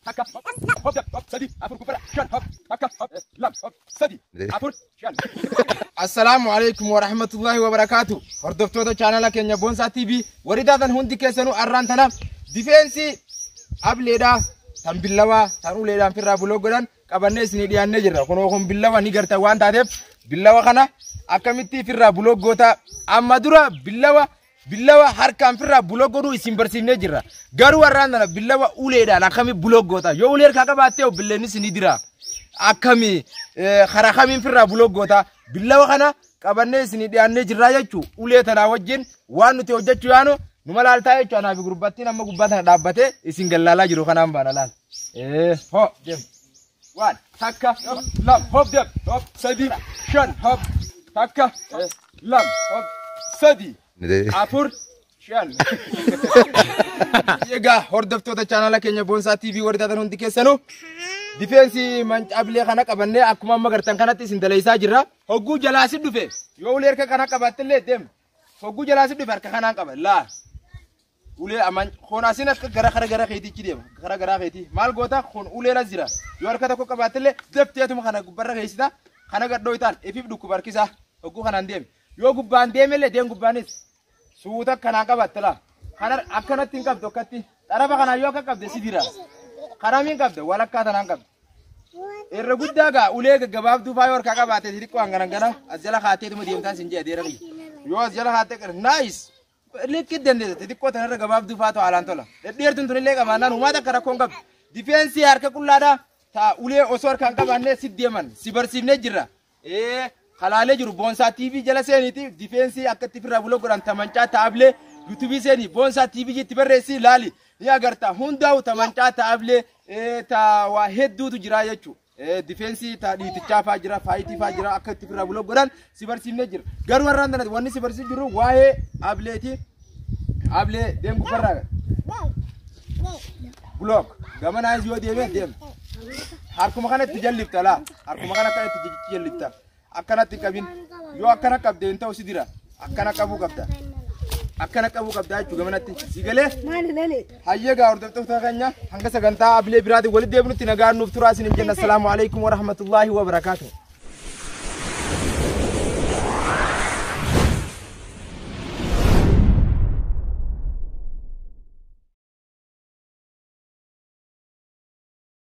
takka hop hop jan hop sadi afur gubbara shan hop takka hop lam hop sadi afur shan Assalaamu alaikum wa rahmatullahi wa barakaatu. Hordoftoota chaanala keenya Boonsaa TV warri taatan hundi keessanuu arraan tana difeensii ableedhaa tan billawaa tan uleedhaan firraa buloo godhan qabannee isinii dhiyaannee jirra. Kunoo kun billawa ni gartan waan taateef billawa kana akkamittii firraa buloo goota amma dura billawa Billawa harkaan firraa buloo godhuu isin barsiifnee jirra. Garuu har'aan tana billawa uleedhaan akkami buloo goota. Yoo ulee harkaa qabaattee obbileenis ni dira. Akkami karaa kamiin firraa buloo goota. Billawa kana qabannee isin dhiyaannee jirraa jechuu ulee tanaa wajjin waan nuti hojjechuu yaanu nu malaaltaa jechuu anaa fi gurbattiin amma gubbaa tana dhaabbatee isin gallaalaa jiru kanaan baana laal. Hoo deemu. Waan takka lam hop deb hop sadii shan hop takka lam hop sadii afur shan. Egaa hordoftoota chaanala keenya Boonsaa TV warri taatan hundi keessanuu difeensi mancaabilee kana qabannee akkuma amma gartan kanatti isin daleessaa jirra. Hogguu jalaa si dhufe yoo ulee harka kana qabaattillee deem. Hogguu jalaa si dhufe harka kanaan qaba laa. ulee aman kun asin akka gara gara gara keetichi deema gara gara keeti maal goota kun ulee la jira yoo harka tokko qabaattillee dafteetuma kana gubbarra keessita kana gadhoo itaan ifiif dhukkuba harkisaa hogguu kanaan deeme yoo gubbaan deemellee deem gubbaanis suuta kanaan qabaatte laa kana akkanatti hin qabdu akkatti xarafa kanaan yoo akka qabde si dira karamiin qabda walakkaa tanaan qabda irra guddaa gaa ulee gaggabaabduu faayoo harkaa qabaatee xixiqqoo hangana gana as jala kaateetuma deemtaan sin jedha deera yoo as jala kaatee naayis Likkii dandeessa xixiqqoo tanarra gabaabduu faatu haalaan tola. Dhedheertuun tunillee qabaannaan uumaa takka rakkoon qabdu. Difeensii harka qullaadha. Ta'a ulee osoo harkaan qabaannee si deeman si barsiifnee jirra. Ee kalaalee jiru boonsaa TV jala seeniiti difeensii akka itti firraa buloo godhan tamancaa taa'ablee yuutuubii seenii boonsaa TV itti barreessii laali ni agarta hundaa'u tamancaa taa'ablee ee ta'a waa hedduutu jira jechuudha. difeensii taa dhiitichaa faa jira faayitii faa jira akka itti firraa buloo godhan si barsiifnee jira garuu har'aan tanatti wanni si barsiif jiru waa'ee ableeti ablee deem gubbarraa block gamanaas yoo deeme deem harkuma kana itti jallifta laa harkuma kana akka itti jallifta akkanatti hin qabin yoo akkana qabde hin ta'u si dira akkana qabuu qabda akkana qabuu qabda jechuu gamanatti si galee Maali lale? hayyee gaa hordoftoota keenya hanga sagantaa abilee biraatiin walitti deebinutti nagaan nuuf turaa isiniin jenna assalaamu alaikum warahmatullaahi wabarakaatuh